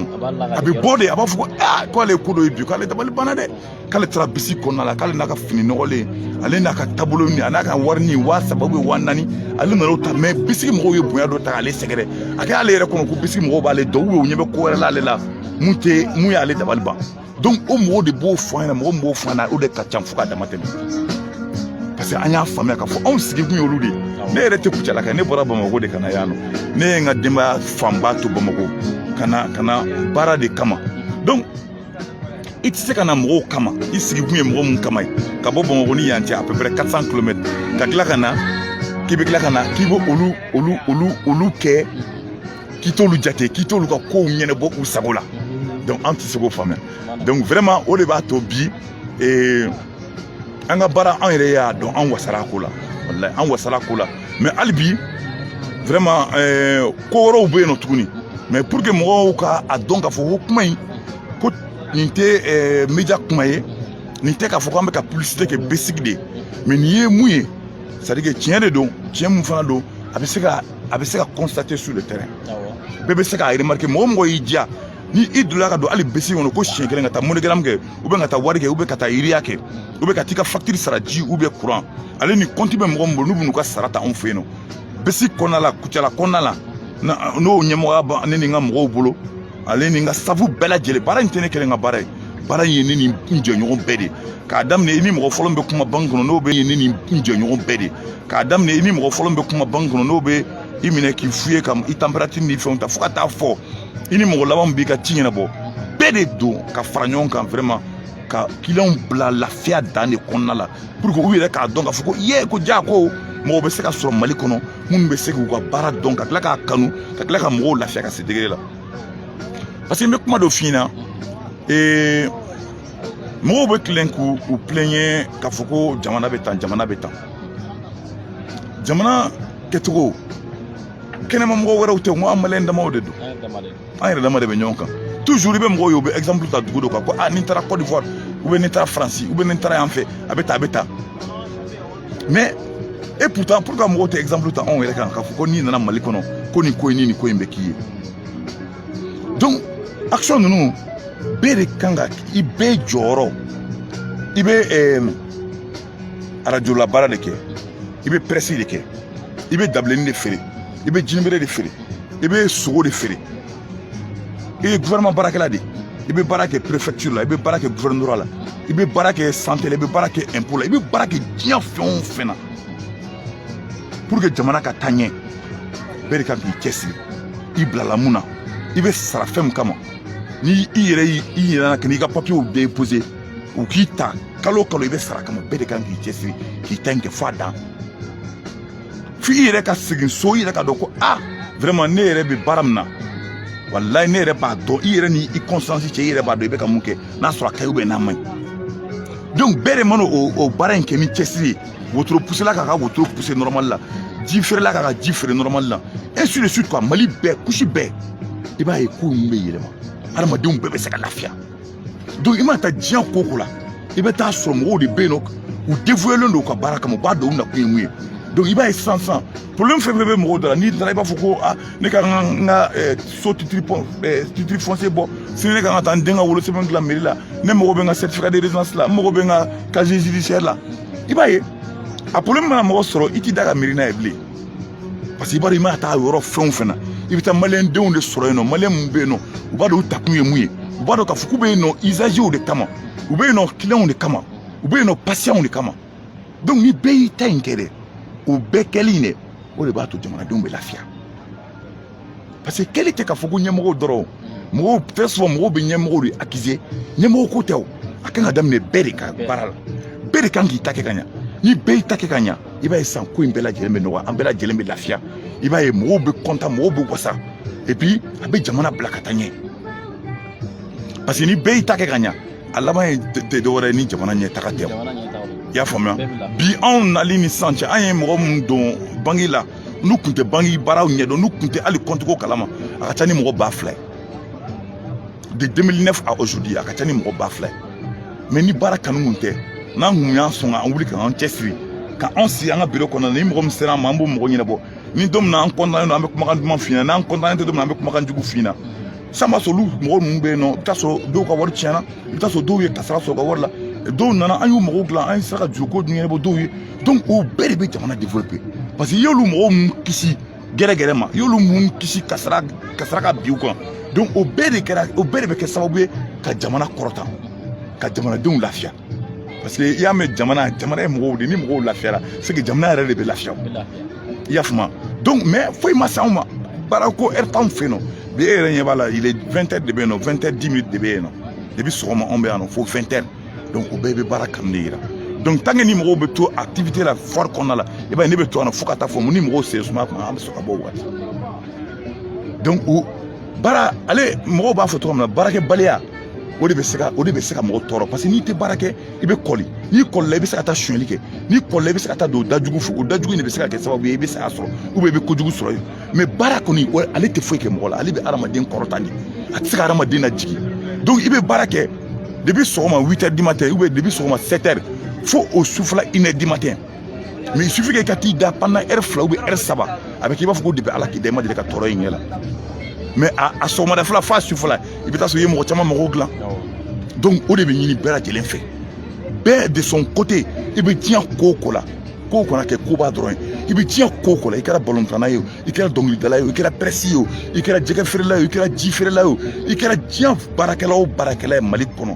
a bɛ bɔ de a b'a fɔ ko aa k'ale ye ko dɔ ye bi k'ale dabali banna dɛ k'ale taara BSIC kɔnɔna la k'ale n'a ka fini nɔgɔlen ale n'a ka taabolo ni a n'a ka warinin waa saba ou bien waa naani ale nana o ta mɛ BSIC mɔgɔw ye bonya dɔ ta k'ale sɛgɛrɛ a kɛ ale yɛrɛ kɔnɔ ko BSIC mɔgɔw b'ale dɔn ou bien u ɲɛ bɛ ko wɛrɛ la ale la mun tɛ mun y'ale dabali ban donc o mɔgɔw de b'o fɔ an ɲɛna mɔgɔ min b'o fɔ an ɲɛna o de ka ca fo ka dama tɛmɛ parce que an y'a faamuya k'a fɔ anw sigikun y'olu de ye ne yɛrɛ tɛ kucalaka ne bɔra bamakɔ de ka na yan nɔ ne ye n ka denbaya fanba to bamakɔ ka na ka na baara de kama donc i tɛ se ka na mɔgɔw kama i sigikun ye mɔgɔ min kama ye ka bɔ bamakɔ ni yan cɛ à peu près 400 kilomètres ka tila ka na k'i bɛ tila ka na k'i bɛ olu olu olu olu kɛ k'i t'olu jate k'i t'olu ka kow ɲɛnɛbɔ u sago la donc an tɛ se k'o faamuya donc vraiment o de b'a to bi ee, an ka baara an yɛrɛ y'a dɔn an wasara ko la walayi an wasara ko la mais hali bi vraiment ee, ko wɛrɛw bɛ yen nɔ tuguni mais pour que mɔgɔw ka a dɔn k'a fɔ ko kuma in ko nin tɛ ee, media kuma ye nin tɛ k'a fɔ k'an bɛ ka publicité kɛ BSIC de ye mais nin ye mun ye c'est à dire que tiɲɛ de don tiɲɛ mun fana don a bɛ se ka a bɛ se ka constater sur le terrain bɛɛ bɛ se k'a remarquer mɔgɔ mɔgɔ y'i diya ni i donna ka don hali BSIC kɔnɔ ko siɲɛ kelen ka taa MoneyGram kɛ ou bien ka taa Wari kɛ ou bien ka taa Ria kɛ ou bien ka t'i ka facture sara ji ou bien courant ale ni compte bɛ mɔgɔ min bolo n'u bɛ n'u ka sara ta anw fɛ yen nɔ BSIC kɔnɔna la Kucala kɔnɔna la n'o ɲɛmɔgɔya bɛ ne ni n ka mɔgɔw bolo ale ni n ka sɛfu bɛɛ lajɛlen baara in tɛ ne kelen ka baara ye baara in ye ne ni n jɛɲɔgɔn bɛɛ de ye k'a daminɛ i ni mɔgɔ fɔlɔ min bɛ kuma banki kɔnɔ n'o bɛ ne ni n jɛɲɔgɔn bɛɛ de ye k'a daminɛ i ni mɔgɔ fɔlɔ min bɛ kuma banki kɔnɔ n'o bɛ i minɛ k'i fouiller ka i température ni fɛnw ta fo ka taa fo i ni mɔgɔ laban b'i ka ci ɲɛnabɔ bɛɛ de don ka fara ɲɔgɔn kan vraiment ka kiliyanw bila lafiya dan de kɔnɔna la pour que u yɛrɛ k'a dɔn k'a fɔ ko ye ko ja ko mɔgɔ bɛ se ka sɔrɔ mali kɔnɔ minnu bɛ se k'u ka baara dɔn ka tila k'a kanu ka tila ka mɔgɔw lafiya ka se degré la parce que n bɛ kuma dɔ f'i ɲɛna ee mɔgɔw bɛ tilen k'u u plaigner k'a fɔ ko jamana bɛ tan jamana bɛ tan jamana kɛcogo kɛnɛma mɔgɔ wɛrɛw tɛ ko an maliyɛn damaw de don an yɛrɛ dama de bɛ ɲɔgɔn kan toujours i bɛ mɔgɔw ye u bɛ exemple ta dugu dɔ kan ko a ni n taara Côte d'Ivoire ou bien ni n taara France ou bien ni n taara yan fɛ a bɛ tan a bɛ tan mais et pourtant pourquoi mɔgɔw tɛ exemple ta anw yɛrɛ kan k'a fɔ ko n'i nana Mali kɔnɔ ko nin ko in ni nin ko in bɛ k'i ye donc action ninnu bɛɛ de kan ka i bɛɛ jɔyɔrɔ i bɛ arajola baara de kɛ i bɛ pɛrɛsi de kɛ i bɛ dabilennin de feere i bɛ jinibere de feere i bɛ sogo de feere i ye gouvernement baarakɛla de i bɛ baara kɛ préfecture la i bɛ baara kɛ gouvernorat la i bɛ baara kɛ santé la i bɛ baara kɛ impôt la i bɛ baara kɛ diɲɛ fɛn o fɛn na pour que jamana ka taa ɲɛ bɛɛ de kan k'i cɛsiri i bilala mun na i bɛ sara fɛn min kama ni i yɛrɛ y'i i ɲinɛna ka n'i ka papiyew déposer u k'i ta kalo o kalo i bɛ sara kama bɛɛ de kan k'i cɛsiri k'i ta in kɛ f'a dan f'i yɛrɛ ka segin so i yɛrɛ ka dɔn ko a vraiment ne yɛrɛ bɛ baara min na walayi ne yɛrɛ b'a dɔn i yɛrɛ ni i conscience cɛ i yɛrɛ b'a dɔn i bɛ ka mun kɛ n'a sɔrɔ a ka ɲi ou bien n'a man ɲi donc bɛɛ de mana o baara in kɛ ni cɛsiri ye wotoro pusela k'a ka wotoro puse nɔrɔmali la ji feerela k'a ka ji feere nɔrɔmali la ainsi de suite quoi mali bɛɛ couche bɛɛ i b'a ye ko ninnu bɛ yɛlɛma hadamadenw bɛɛ bɛ se ka lafiya donc i mana taa diɲɛ ko o ko la i bɛ taa sɔrɔ mɔgɔw de bɛ yen nɔ u dévouélen don u ka baara kama u b'a dɔn u nakun ye mun ye donc i b'a ye sisan sisan problème fɛn fɛn bɛ mɔgɔw da la n'i taara i b'a fɔ ko a ne ka n ka eh, so titre fon eh, titre foncier bɔ sini ne ka kan ka taa n den ka wolosɛbɛn dilan meri la ne mago bɛ n ka certificat de résidence la n mago bɛ n ka casier judiciaire la i b'a ye a problème mana mɔgɔ sɔrɔ i t'i da ka miiri n'a ye bilen parce que i b'a dɔn i mana taa yɔrɔ fɛn o fɛn na i bɛ taa maliyɛn denw de sɔrɔ yen nɔ maliyɛn minnu bɛ yen nɔ u b'a dɔn u takun ye mun ye u b'a dɔn k'a fɔ k'u bɛ yen nɔ usagew de kama u bɛ yen nɔ clients de kama u bɛ yen nɔ patients de kama donc ni bɛɛ y'i ta in kɛ dɛ o bɛɛ kɛli in dɛ o de b'a to jamanadenw bɛ lafiya parce que kɛli tɛ k'a fɔ ko ɲɛmɔgɔw dɔrɔn mɔgɔw très souvent mɔgɔw bɛ ɲɛmɔgɔw de accuser ɲɛmɔgɔ ko tɛ o a kan ka daminɛ bɛɛ de ka baara la bɛɛ de kan k'i ta kɛ ka ɲa ni bɛɛ y'i ta kɛ ka ɲa i b'a ye san ko in bɛɛ lajɛlen bɛ nɔgɔya an bɛɛ lajɛlen bɛ lafiya i b'a ye mɔgɔw bɛ kɔntan mɔgɔw bɛ wasa et puis a bɛ jamana bila ka taa ɲɛ parce que ni bɛɛ y'i ta kɛ ka ɲa a laban ye tɛ dɔwɛrɛ ye ni jamana ɲɛtaga tɛ i y'a faamuya bi anw nali ni sisan cɛ an ye mɔgɔ minnu don banki la n'u tun tɛ banki baaraw ɲɛdɔn n'u tun tɛ hali compte ko kalama a ka ca ni mɔgɔ ba fila ye de 2009 à aujourd'hui a ka ca ni mɔgɔ ba fila ye mais ni baara kanu kun tɛ n'an kun y'an sɔn ka an wuli k'an cɛsiri ka anw sigi an ka biro kɔnɔ ni mɔgɔ min sera an ma an b'o mɔgɔ ɲɛnabɔ ni don min na an kɔntannen don an bɛ kumakan duman f'i ɲɛna n'an kɔntannen tɛ don min na an bɛ kumakan jugu f'i ɲɛna san b'a sɔrɔ olu mɔgɔ ninnu bɛ yen nɔ i bɛ t'a sɔrɔ dɔw ka wari tiɲɛna i bɛ t'a sɔrɔ dɔw ye kasara sɔrɔ ka wari la dɔw nana an y'u magow dilan an ye sera ka juruko dun ɲɛnabɔ dɔw ye donc o bɛɛ de bɛ jamana développer parce que i y'olu mɔgɔ min kisi gɛrɛgɛrɛ ma i y'olu min kisi kasara kasara ka bin u kan donc o bɛɛ de kɛra o bɛɛ de bɛ kɛ sababu ye ka jamana kɔrɔta ka jamanadenw lafiya parce que i y'a mɛn jamana jamana ye mɔgɔw de ni mɔgɔw lafiyara c'est que jamana yɛrɛ de bɛ lafiya i y'a faamu donc mais foyi ma s'anw ma baara ko heure t'anw fɛ yen nɔ bi e yɛrɛ ɲɛ b'a la il est 20 heures de bɛ yen nɔ 20 heures 10 minutes de bɛ yen nɔ depuis sɔgɔma anw bɛ yan nɔ fo 20 heures donc o bɛɛ bɛ baara kanu de yira donc tant que ni mɔgɔw bɛ to activité la foire kɔnɔna la i b'a ye ne bɛ to yan nɔ fo ka taa fo mun ni mɔgɔw sen suma tuma an bɛ sɔrɔ ka bɔ o waati donc o baara ale mɔgɔw b'a fɔ cogo min na baarakɛbaliya o de bɛ se ka o de bɛ se ka mɔgɔ tɔɔrɔ parce que n'i tɛ baara kɛ i bɛ kɔli n'i kɔlila i bɛ se ka taa sonyali kɛ n'i kɔlila i bɛ se ka taa don dajugu fɛ o dajugu in de bɛ se ka kɛ sababu ye i bɛ se ka sɔrɔ ou bien i bɛ kojugu sɔrɔ yen mais baara kɔni o ale tɛ foyi kɛ mɔgɔ la ale bɛ hadamaden kɔrɔta de a tɛ se ka hadamaden lajigin donc i bɛ baara kɛ depuis sɔgɔma 8 heures du matin ou bien depuis sɔgɔma 7 heures fo o sufɛla une heure du matin mais il suffit que i ka t'i da pendant heure fila ou bien heure saba a bɛ k'i b'a fɔ ko depuis ala k'i da i ma deli ka tɔɔrɔ ye ɲɛ la mais a sɔgɔmada fɛla f'a sufɛla i bɛ taa sɔrɔ i ye mɔgɔ caman mago dilan donc o de bɛ ɲini bɛɛ lajɛlen fɛ bɛɛ de son côté i bɛ diɲɛ ko o ko la ko kana kɛ koba dɔrɔn ye i bɛ diɲɛ ko o ko la i kɛra balontanna ye o i kɛra dɔnkilidala ye o i kɛra pɛrɛsi ye o i kɛra jɛgɛ feerela ye o i kɛra ji feerela ye o i kɛra diɲɛ baarakɛla o baarakɛla ye mali kɔnɔ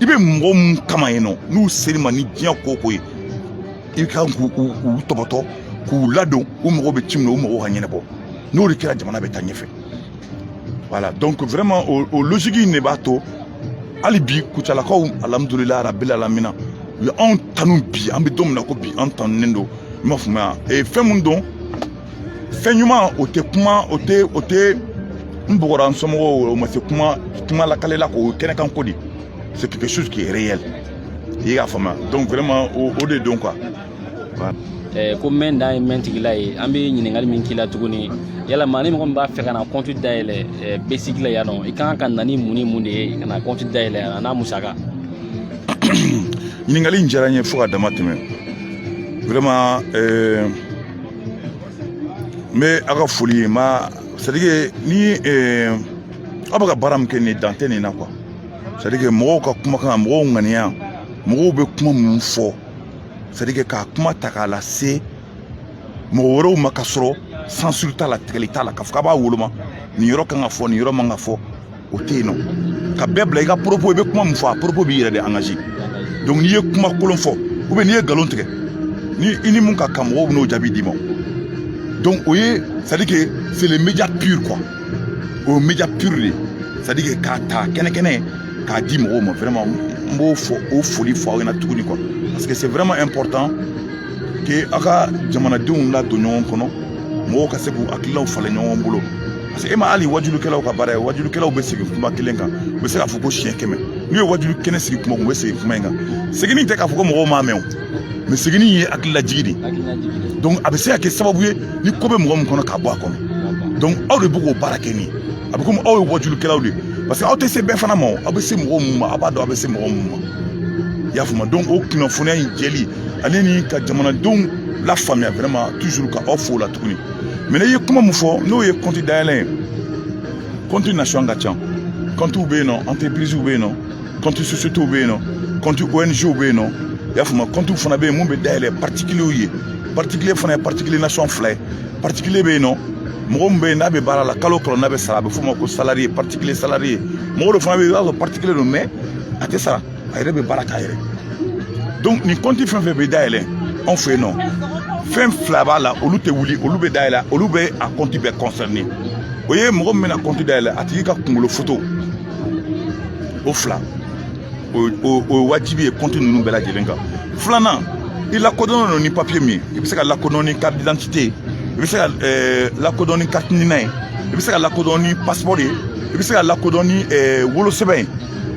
i bɛ mɔgɔ mun kama yen nɔ n'u ser'i ma ni diɲɛ ko ko ye i ka k'u tɔbɔtɔ k'u ladon u mago bɛ ci min na u mago ka ɲɛnabɔ n'o de kɛra jamana bɛ taa ɲɛfɛ voilà donc vraiment o, o logique in de b'a to hali bi kucalakaw alhamdulilayi rabilalamina u ye anw tanu bi an bɛ don min na ko bi an tanunen don i m'a faamuya ee fɛn mun don fɛn ɲuman o tɛ kuma o tɛ o tɛ n bɔgɔra n somɔgɔw o ma se kuma kuma lakalela k'o kɛnɛ kan ko de c'est quelque chose qui est réel i y'a faamuya donc vraiment o o de don quoi. Eh, ko mɛn dan ye mɛn tigi la ye an bɛ ɲininkali min k'i la tuguni yala maa ni mɔgɔ min b'a fɛ ka na kɔnti dayɛlɛ eh, besigi la yan nɔ i kan ka na ni mun ni mun de ye ka na kɔnti dayɛlɛ yan n'a musaka ɲininkali in diyara n ye fo ka dama tɛmɛ vraiment eh, n bɛ a ka foli ye ma c'est à dire que ni aw bɛ ka baara min kɛ nin dan tɛ nin na quoi c'est à dire que mɔgɔw ka kumakan mɔgɔw ŋaniya mɔgɔw bɛ kuma minnu fɔ c'est à dire que k'a kuma ta k'a lase mɔgɔ wɛrɛw ma ka sɔrɔ censure t'a la tigɛli t'a la k'a fɔ k'a b'a woloma nin yɔrɔ kan ka fɔ nin yɔrɔ man ka fɔ o tɛ yen nɔ ka bɛɛ bila i ka poropo i bɛ kuma min fɔ a poropo b'i yɛrɛ de angaze donc n'i ye kuma kolon fɔ ou bien n'i ye nkalon tigɛ ni i ni mun ka kan mɔgɔw bɛn'o jaabi d'i ma donc o ye c'est à dire que c'est le média pur quoi o ye média pur de ye c'est à dire que k'a ta kɛnɛkɛnɛ k'a di mɔgɔw ma vraiment n b'o foli fɔ aw ɲɛna tuguni quoi parce que c'est vraiment important que aw ka jamanadenw ladon ɲɔgɔn kɔnɔ mɔgɔw ka se k'u hakililaw falen ɲɔgɔn bolo e ma hali wajulikɛlaw ka baara ye wajulikɛlaw bɛ segin kuma kelen kan u bɛ se k'a fɔ ko siɲɛ kɛmɛ n'u ye wajuli kɛnɛ sigi kuma u bɛ segin kuma in kan seginni tɛ k'a fɔ ko mɔgɔw m'a mɛn o mɛ seginni ye hakililajigi de ye donc a bɛ se ka kɛ sababu ye ni ko bɛ mɔgɔ min kɔnɔ k'a bɔ a kɔnɔ donc aw de bɛ k'o baara kɛ nin a bɛ komi aw ye wajulikɛlaw de ye parce que aw tɛ se bɛɛ fana ma o aw bɛ se mɔgɔ minnu ma aw b'a dɔn aw bɛ se mɔgɔ minnu ma i y'a faamu donc o kunnafoniya in jɛli ale ni ka jamanadenw lafaamuya vraiment toujours ka aw fo o la tuguni mɛ n'i ye kuma min fɔ n'o ye kɔnti dayɛlɛ ye kɔnti nasɔn ka ca kɔntiw bɛ yen nɔ antɛpiriziw bɛ yen nɔ kɔnti sosiyetiw bɛ yen nɔ kɔnti ong bɛ yen nɔ i y'a faamu kɔntiw fana bɛ yen mun bɛ dayɛlɛ patikilew ye patikile fana ye patikile nasɔn fila ye patikile bɛ yen nɔ mɔgɔ min bɛ yen n'a bɛ baara la kalo kalo n'a bɛ sara a bɛ f'o ma ko salariye patikile salariye mɔgɔ dɔ fana bɛ yen i b'a sɔrɔ patikile don mɛ a tɛ sara a yɛrɛ bɛ baara k'a yɛrɛ donc nin kɔnti fɛn fɛn bɛ dayɛlɛ anw fɛ yen nɔ fɛn fila b'a la olu tɛ wuli olu bɛ dayɛlɛ olu bɛ a kɔnti bɛɛ kɔnsɛrine o ye mɔgɔ min bɛna kɔnti dayɛlɛ a tigi ka kunkolo foto o fila o ye wajibi ye kɔnti ninnu bɛɛ lajɛlen kan filanan i lakodɔnnen don ni papiye min ye i bɛ se ka lakodɔn ni carte d'identité ye i bɛ se ka eh, lakodɔn ni carte nina ye i bɛ se ka lakodɔn ni passeport ye i bɛ se ka lakodɔn ni eh, wolosɛbɛn ye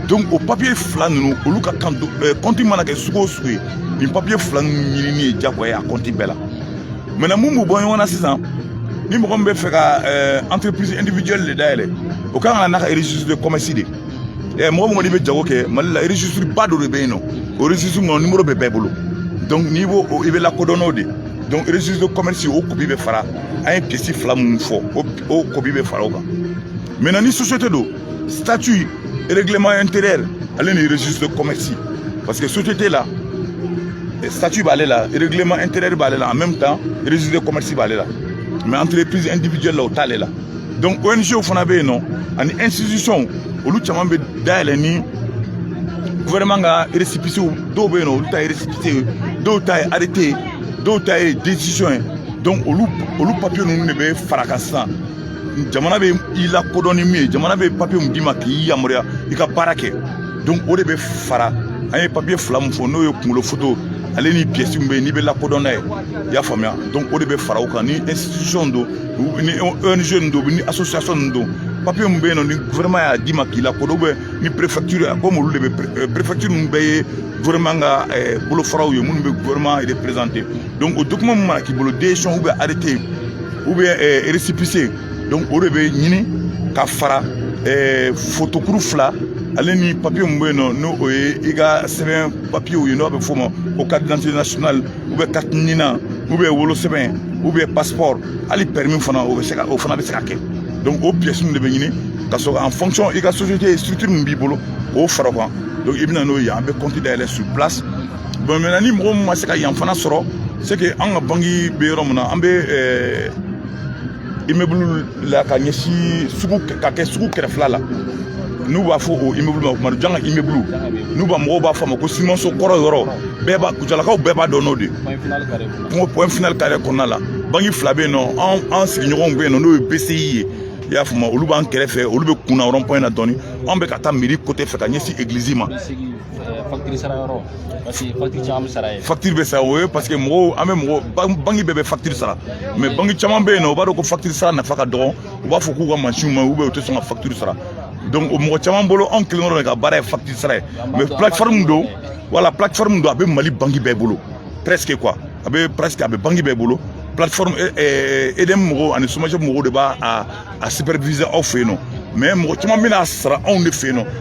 donc o papiye fila ninnu olu ka kan eh, kɔnti mana kɛ sugu o sugu ye nin papiye fila ninnu ɲinini ye jagoya ye a kɔnti bɛɛ la maintenant mun b'u bɔ ɲɔgɔn na sisan ni mɔgɔ min bɛ fɛ ka eh, entreprise individuelle de dayɛlɛ o kan ka na n'a ka registre de commerce de ye mɔgɔ min kɔni bɛ jago kɛ mali la registre ba dɔ de bɛ yen nɔ o registre kɔnɔ numéro bɛ bɛɛ bolo donc n'i b'o i bɛ lakodɔn n'o de donc registre de commerce o kopi bɛ fara an ye pièce fila minnu fɔ o kopi bɛ fara o kan maintenant ni société don statut règlement intérieur ale ni registre de commerce parce que société la statut b'ale la règlement intérieur b'ale la en même temps registre de commerce b'ale la mais entreprise individuelle la o t'ale la donc ONG fana bɛ yen nɔ ani institution olu caman bɛ dayɛlɛ ni gouvernement ka récépissé dɔw bɛ yen nɔ olu ta ye récépissé ye dɔw ta ye arrêté ye dɔw ta ye décision ye donc olu olu papier ninnu de bɛ fara kan sisan jamana bɛ i lakodɔn ni min ye jamana bɛ papiye mun d'i ma k'i yamaruya i ka baara kɛ donc o de bɛ fara an ye papiye fila mun fɔ n'o ye kunkolo foto ale ni pièce min bɛ yen n'i bɛ lakodɔn n'a ye i y'a faamuya donc o de bɛ fara o kan ni institution don ni ONG don ni association nin don papiye min bɛ yen nɔ ni gouvernement y'a d'i ma k'i lakodɔn ou bien ni préfecture komi olu de bɛ préfecture ninnu bɛɛ ye gouvernement ka bolofaraw ye minnu bɛ gouvernement représenter donc o document min mana k'i bolo décision ou bien arrêté ou bien euh, récépissé donc o de bɛ ɲini ka fara euh, fotokuru fila ale ni papiye min bɛ yen nɔ n'o o ye i ka sɛbɛn papiyew ye n'o bɛ f'o ma ko carte d'identité nationale ou bien carte NINA ou bien wolosɛbɛn ou bien passeport hali permis fana o bɛ se ka o fana bɛ se ka kɛ donc o pièces ninnu de bɛ ɲini ka sɔrɔ en fonction i ka société structure min b'i bolo k'o fara o kan donc i bɛ na n'o ye an bɛ compte dayɛlɛ sur place bon maintenant ni mɔgɔ min ma se ka yan fana sɔrɔ c'est que an ka banki bɛ yɔrɔ min na an bɛ eh, immeuble la ka ɲɛsin sugu ka kɛ sugu kɛrɛfɛla la n'u b'a fɔ o immeuble ma ko madu janga immeuble n'u b'a mɔgɔw b'a fɔ a ma ko simanso kɔrɔ yɔrɔ bɛɛ b'a kucalakaw bɛɛ b'a dɔn n'o de ko point final kare kɔnɔna la banki fila bɛ yen nɔ an an sigiɲɔgɔnw bɛ yen nɔ n'o ye bci ye i y'a faamu olu b'an kɛrɛfɛ olu bɛ kunna rond point na dɔɔni anw bɛ ka taa mairie côté fɛ ka ɲɛsin eglizi ma facture sara yɔrɔ parce que facture caman bɛ sara yen facture bɛ sara o ye parce que mɔgɔw an bɛ mɔgɔ banki bɛɛ bɛ facture sara mais banki caman bɛ yen nɔ u b'a dɔn ko facture sara nafa ka dɔgɔn u b'a fɔ k'u ka mansinw ma u bɛ u tɛ sɔn ka facture sara donc o mɔgɔ caman bolo anw kelen dɔrɔn de ka baara ye facture sara ye mais plateforme don voilà plateforme don a bɛ mali banki bɛɛ bolo presque quoi a bɛ presque a bɛ banki bɛɛ bolo plateforme EDM mɔgɔw ani SOMAGEP mɔgɔw de b'a a superviser aw fɛ yen nɔ mais mɔgɔ caman bɛ n'a sara anw de fɛ yen nɔ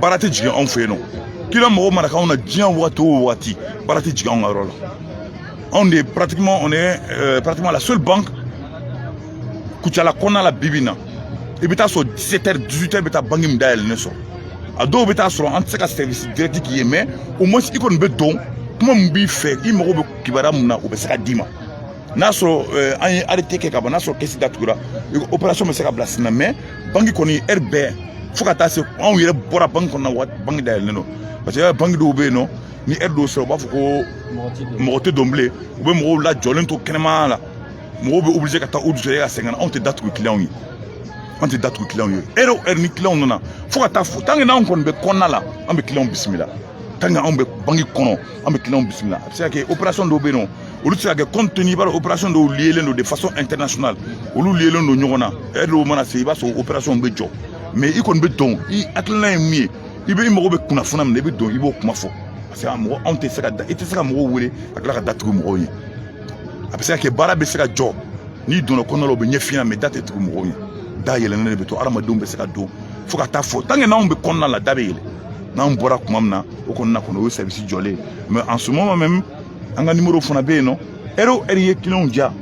baara tɛ jigin anw fɛ yen nɔ kiliyan mago mana k'anw na diɲɛ wagati o wagati baara tɛ jigin anw ka yɔrɔ la anw de pratiquement on est euh, pratiquement la seule banque kucala kɔnɔna la bibi in na i bɛ taa sɔrɔ 17 heures 18 heures bɛ taa banque min dayɛlɛlen sɔrɔ a dɔw bɛ taa sɔrɔ an tɛ se ka service direct k'i ye mais au moins i kɔni bɛ don kuma min b'i fɛ i mago bɛ kibaruya min na o bɛ se ka d'i ma n'a sɔrɔ eh, an ye arrêté kɛ ka ban n'a sɔrɔ kɛsi datugura opération bɛ se ka bila sen na mais banki kɔni heure bɛɛ fo ka taa se anw yɛrɛ bɔra banki kɔnɔ na waati banki dayɛlɛlen don parce que banki dɔw bɛ yen nɔ ni heure dɔw sera u b'a fɔ ko mɔgɔ tɛ don bilen u bɛ mɔgɔw lajɔlen to kɛnɛmaya la mɔgɔw bɛ obligé ka taa u dusu ka sɛgɛn anw tɛ da tugu clients ye an tɛ da tugu clients ye heure o heure ni clients nana fo ka taa fɔ tant que n'anw kɔni bɛ kɔnɔna la an bɛ clients bisimila tant que anw bɛ banki kɔnɔ an bɛ clients bisimila a bɛ se ka kɛ opération dɔw bɛ yen nɔ olu tɛ se ka kɛ compte tenu i b'a dɔn opération dɔw liyelen don de façon internationale olu liyelen don ɲɔgɔn na heure dɔw mana se i b'a sɔrɔ opération bɛ jɔ mais i kɔni bɛ don i hakilina ye min ye i bɛ i mago bɛ kunnafoniya min na i bɛ don i b'o kuma fɔ parce que a mɔgɔ anw tɛ se ka da i tɛ se ka mɔgɔw wele ka tila ka da tugu mɔgɔw ye a bɛ se ka kɛ baara bɛ se ka jɔ n'i donna kɔnɔ la o bɛ ɲɛf'i ɲɛna mais da tɛ tugu mɔgɔw ye da yɛlɛnnen de bɛ to hadamadenw bɛ se ka don fo ka taa fɔ tant que n'anw bɛ kɔnɔna la da bɛ yɛlɛ n'anw bɔra tuma min na o kɔnɔna kɔnɔ o ye service jɔlen mais en ce moment même an ka nimoro fana bɛ yen nɔ ɛri o ɛri ye kiliyanw ja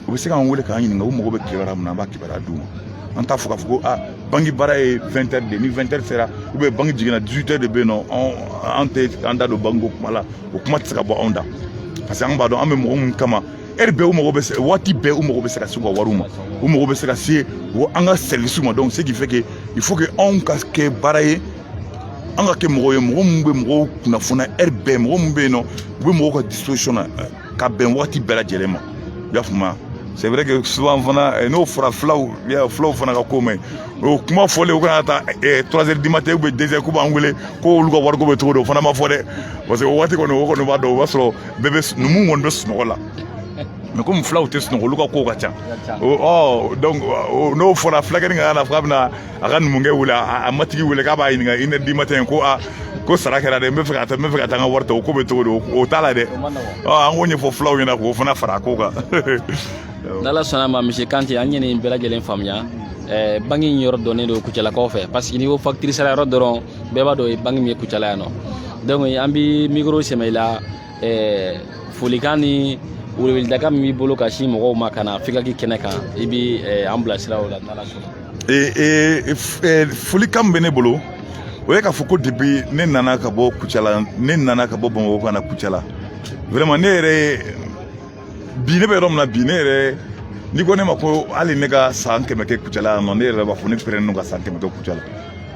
u bɛ se k'an wele k'an ɲininka u mago bɛ kibaruya min na an b'a kibaruya d'u ma an t'a fɔ k'a fɔ ko aa banki baara ye vingt heures de ni vingt heures sera u bɛ banki jiginna dix-sept heures de bɛ yen nɔ an tɛ an da don banki ko kuma la o kuma tɛ se ka bɔ anw da parce que an b'a dɔn an bɛ mɔgɔ minnu kama ɛri bɛɛ u mago bɛ se waati bɛɛ u mago bɛ se ka se u ka wariw ma u mago bɛ se ka se an ka sɛriwisiw ma donc ce qui fait que il faut que anw ka kɛ baara ye an ka kɛ mɔgɔw ye mɔgɔ minnu bɛ mɔgɔw kunnafoniya ɛri bɛɛ mɔgɔ minnu bɛ yen nɔ u bɛ mɔgɔw ka disposition na ka bɛn waati bɛɛ lajɛlen ma i y'a faamuya c'est vrai que souvent fana eh, n'o fɔra fulaw ye fulaw fana ka ko man ɲi o kuma fɔlen u kana taa eh, trois heures du matin ou bien deux heures k'u b'an wele ko olu ka wariko bɛ cogo di o fana ma fɔ dɛ parce que o waati kɔni o kɔni b'a dɔn o b'a sɔrɔ bɛɛ bɛ numu kɔni bɛ sunɔgɔ la mais komi fulaw tɛ sunɔgɔ olu ka kow ka ca donc n'o fɔra fulakɛni ka y'a la fo a bɛna a ka numukɛ wele a matigi wele k'a b'a ɲininka i ne di ma tɛ ko a ko sara kɛra dɛ n bɛ fɛ ka taa n bɛ fɛ ka taa n ka wari ta o ko bɛ cogo di o t'a la dɛ an k'o ɲɛfɔ fulaw ɲɛna k'o fana fara a ko kan n'ala sɔnna ma monsieur Kante an ye nin bɛɛ lajɛlen faamuya eh, banki in yɔrɔ dɔnnen don kucalakaw fɛ parce que n'i ko fakitiri sara yɔrɔ dɔrɔn bɛɛ b'a dɔn o ye banki min ye kucala yan nɔ donc an bi mikoro sɛmɛ i la ɛɛ folikan ni weleweleda min b'i bolo ka sin mɔgɔw ma ka na fikaki kɛnɛ kan i bɛ eh, an bilasira o la n'ala sɔnna. Eh, eh, folikan min bɛ ne bolo o ye k'a fɔ ko depuis ne nana ka bɔ Kucala ne nana ka bɔ Bamakɔ ka na Kucala vraiment ne yɛrɛ ye bi ne bɛ yɔrɔ min na bi ne yɛrɛ n'i ko ne ma ko hali ne ka san kɛmɛ kɛ kucala yan nɔ ne yɛrɛ b'a fɔ ne pɛrɛnnen don ka san kɛmɛ kɛ kucala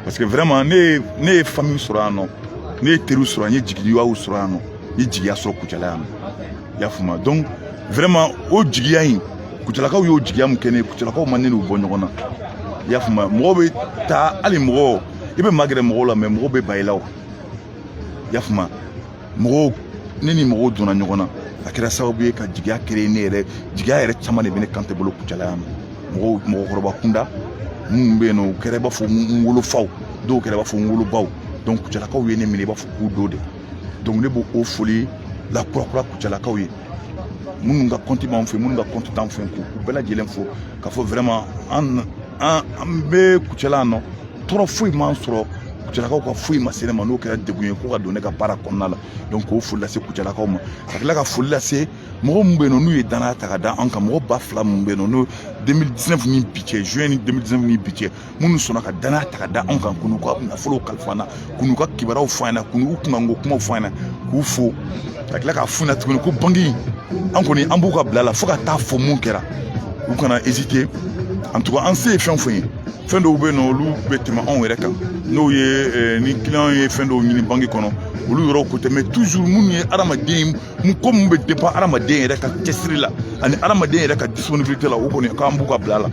parce que vraiment ne ye ne ye famille sɔrɔ yan nɔ ne ye teriw sɔrɔ n ye jigiyaw sɔrɔ yan nɔ n ye jigiya sɔrɔ kucala yan nɔ i y'a faamuya donc vraiment o jigiya in kucalakaw y'o jigiya min kɛ ne ye kucalakaw ma ne n'u bɔ ɲɔgɔn na i y'a faamuya mɔgɔw bɛ taa hali mɔgɔ i bɛ magɛrɛ mɔgɔw la mais mɔgɔw bɛ ban i la o i y'a faamuya mɔgɔw ne ni mɔgɔw donna ɲɔgɔn na a kɛra sababu ye ka jigiya créer ne yɛrɛ jigiya yɛrɛ caman de bɛ ne kan tɛ bolo kucala yan nɔ mɔgɔw mɔgɔkɔrɔba kunda minnu bɛ yen nɔ u kɛra i b'a fɔ n wolofaw dɔw kɛra i b'a fɔ n wolobaw donc kucalakaw ye ne minɛ i b'a fɔ k'u dɔ de donc ne b'o o foli lakurakura kucalakaw ye minnu ka kɔnti b'an fɛ minnu ka kɔnti t'an fɛ k'u bɛɛ lajɛlen fo k'a fɔ vraiment an an an bɛ kucala nɔ tɔɔrɔ foyi m'an sɔrɔ kucalakaw ka foyi ma se ne ma n'o kɛra degun ye ko ka don ne ka baara kɔnɔna la donc k'o foli lase kucalakaw ma ka tila ka foli lase mɔgɔ min bɛ yen nɔ n'u ye danaya ta ka da an kan mɔgɔ ba fila min bɛ yen nɔ n'o 2019 ni bi cɛ juin 2019 ni bi cɛ minnu sɔnna ka danaya ta ka da an kan ka n'u ka nafolo kalifa an na ka n'u ka kibaruyaw fɔ an ɲɛna ka n'u kunkanko kumaw fɔ an ɲɛna k'u fo ka tila k'a f'u ɲɛna tuguni ko banki an kɔni an b'u ka bila la fo ka taa fɔ mun kɛra u kana hésiter an tugu an se ye fɛn fɛn ye fɛn dɔw bɛ yen nɔ olu bɛ tɛmɛ anw yɛrɛ kan n'o ye eh, ni kiliyan ye fɛn dɔw ɲini banki kɔnɔ olu yɔrɔw ko tɛ mais toujours minnu ye adamaden mun ko mun bɛ dépend adamaden yɛrɛ ka cɛsiri la ani adamaden yɛrɛ ka disponibilité la o kɔni k'an b'u ka bila la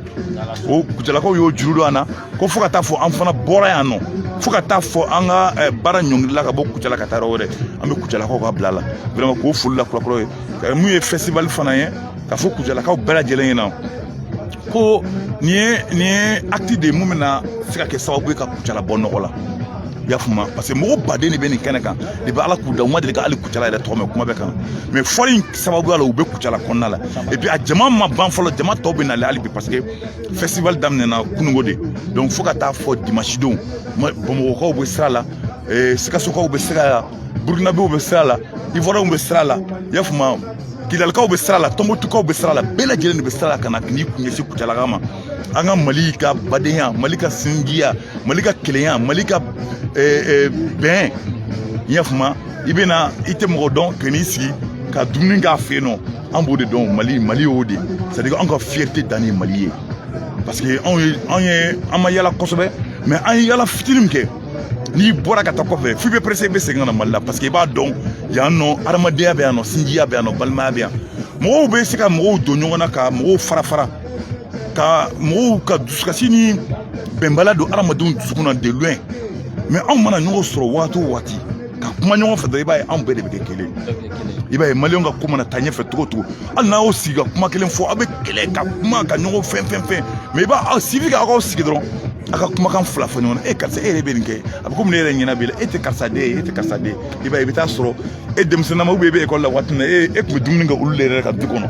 o kucalakaw y'o juru don an na ko fo ka taa fɔ an fana bɔra yan nɔ fo ka taa fɔ an ka eh, baara ɲɔngirila ka bɔ kucala ka taa yɔrɔ wɛrɛ an bɛ kucalakaw ka bila la vraiment k'o foli lakurakura u ye mun ye festival fana ye ka fɔ kucalakaw bɛɛ lajɛlen ɲɛna ko nin ye nin ye acte de ye mun bɛna se ka kɛ sababu ye ka kucala bɔ nɔgɔ la i y'a faamu parce que mɔgɔ baden de bɛ nin kɛnɛ kan depuis ala k'u da u ma deli ka hali kucala yɛrɛ tɔgɔ mɛn kuma bɛɛ kan mais fɔli in sababuya la u bɛ kucala kɔnɔna la et puis a jama ma ban fɔlɔ jama tɔw bɛ nalen hali bi parce que festival daminɛna kunungo de donc fo ka taa fɔ dimanche don bamakɔkaw bɛ sira la eh, sikasokaw bɛ sira la burukinabew bɛ sira la ivoirienw bɛ sira la i y'a faamuya kidalikaw bɛ sira la tɔnbɔtukaw bɛ sira la bɛɛ lajɛlen de bɛ sira la ka na k'i kun ɲɛsin kucalaka ma an ka mali ka badenya mali ka sinjiya mali ka kelenya mali ka eh, eh, bɛn i y'a faamuya i bɛ na i tɛ mɔgɔ dɔn ka n'i sigi ka dumuni k'a fɛ yen nɔ an b'o de dɔn mali mali y'o de c'est à dire an ka fierté dan ye mali ye parce que anw ye an ye an ma yala kosɛbɛ mais an ye yala fitini min kɛ n'i bɔra ka taa kɔfɛ f'i bɛ pressé i bɛ segin ka na mali la parce que i b'a dɔn yan nɔ adamadenya bɛ yan nɔ sinjiya bɛ yan nɔ balimaya bɛ yan mɔgɔw bɛ se ka mɔgɔw don ɲɔgɔn na ka mɔgɔw fara fara ka mɔgɔw ka dusukasi ni bɛnbaliya don adamadenw dusukun na de loin mais anw mana ɲɔgɔn sɔrɔ waati o waati ka kuma ɲɔgɔn fɛ dɔrɔn i b'a ye anw bɛɛ de bɛ kɛ kelen i b'a ye maliyɛnw ka ko mana taa ɲɛfɛ togo togo hali n'a y'o sigi ka kuma kelen fɔ aw bɛ kɛlɛ ka kuma ka ɲɔgɔn fɛn fɛn fɛn mais i b'a aw sigi ka aw sigi dɔrɔn a ka kumakan fila fɔ ɲɔgɔn na e karisa e yɛrɛ bɛ nin kɛ a bɛ komi ne yɛrɛ ɲɛna b'i la e tɛ karisa den ye e tɛ karisa den ye i b'a ye i bɛ t'a sɔrɔ e denmisɛnninma e bɛ ekɔli la waati min na e e tun bɛ dumuni kɛ olu de yɛrɛ ka du kɔnɔ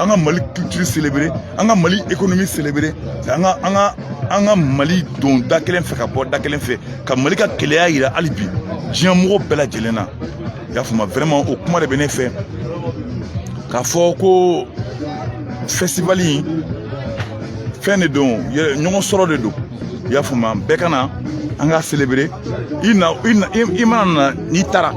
an ka mali culture célébrer an ka mali économie célébrer an ka an ka an ka mali don da kelen fɛ ka bɔ da kelen fɛ ka mali ka kelenya yira hali bi diɲɛ mɔgɔ bɛɛ lajɛlen na i y'a faamuya vraiment o kuma de bɛ ne fɛ k'a fɔ ko festival in fɛn de don ɲɔgɔn sɔrɔ de don i y'a faamuya bɛɛ ka na an ka célébrer i na i na i mana na n'i taara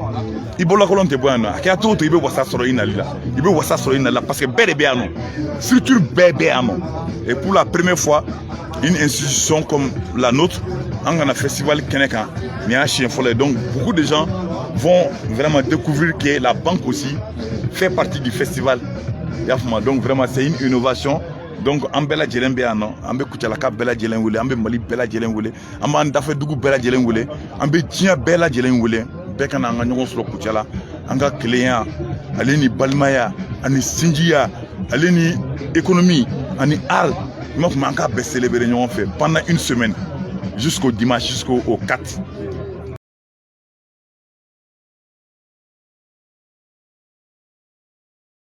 i bolokolon tɛ bɔ yan nɔ a kɛra cogo o cogo i bɛ wasa sɔrɔ i nali la i bɛ wasa sɔrɔ i nali la parce que bɛɛ de bɛ yan nɔ structure bɛɛ bɛ yan nɔ et pour la première fois une institution comme la nôtre an ka na festival kɛnɛ kan nin y'a siɲɛ fɔlɔ ye donc beaucoup de gens vont vraiment découvrir que la banque aussi fait partie du festival i y'a faamu donc vraiment c'est une innovation donc an bɛɛ lajɛlen bɛ yan nɔ an bɛ kucalaka bɛɛ lajɛlen wele an bɛ mali bɛɛ lajɛlen wele an b'an dafɛdugu bɛɛ lajɛlen wele an bɛ diɲɛ bɛɛ lajɛlen wele bɛɛ ka na an ka ɲɔgɔn sɔrɔ kucala an ka kelenya ale ni balimaya ani sinjiya ale ni ekonomi ani art i m'a faamu an k'a bɛɛ selebere ɲɔgɔn fɛ pendant une semaine jusqu'au dimanche jusqu'au 4